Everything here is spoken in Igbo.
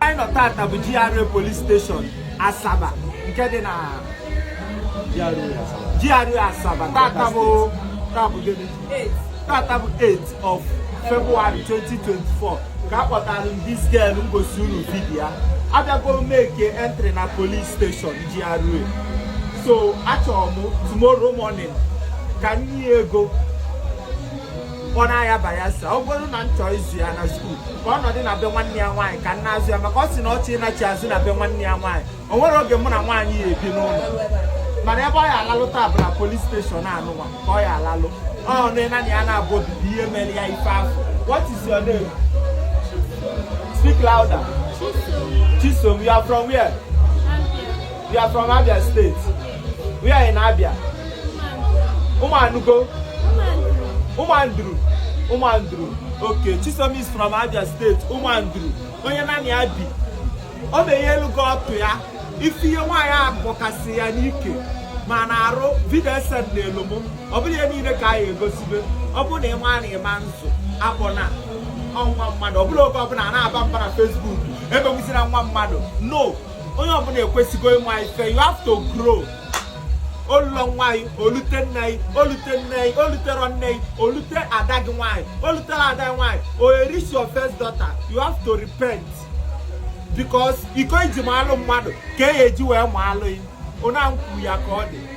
anyị nọ tata bụ GRA police station Asaba nke dị na GRA Asaba tata bụ tata bụ 8 of February 2024 ka akpọtara m this girl m gosi unu vidiyo ya abịago m make entry na police station GRA so achọrọ m tomorrow morning ka m nye ya ego ọ na-aya bayelsa ọ bụrụ na m chọọ ịzụ ya na school ka ọ nọdụ na be nwanne ya nwaanyị ka m na-azụ ya maka ọ sị na ọ chọ ịnachi azụ na be nwanne ya nwaanyị o nwerọ oge mụ na nwaanyị ya-ebi n'ụlọ mana ebe ọ ya-alalụ taa bụ na police station anụnwa ka ọ ya-alalụ ọ nụ nanị ya na-abụ obibi ihe mere ya ife afụ what is your name speak louder chisom you are from where you are from abia state Where in Abia? Umanugo. Umanduru. Umanduru. Okay, Chisom is from Abia State. Umanduru. Onye nani Abi. Ọ bụ ihe elu gị ọtụ ya. Ife ihe nwaanyị a bọkasị ya n'ike ma na-arụ vidio e sendelụ m. Ọ bụrọ ihe niile ka anyị egosibe. Ọ bụrụ na ị ma na ị ma nzụ akpọna nwa mmadụ. Ọ bụrọ oge ọbụla a na-aba mba na Facebook. Emegbuzina nwa mmadụ. No. onye ọbụla ekwesịgo ịma ife you have to grow o lurọ nwaanyị o lute nne anyị o lute nne anyị o luterọ nne anyị o lute ada gị nwaanyị o luterọ ada gị nwaanyị o reach your first daughter you have to repent because iko i ji maalụ mmadụ ka e ji wee maalụ ya onye ahụ kwuru ya ka ọ dị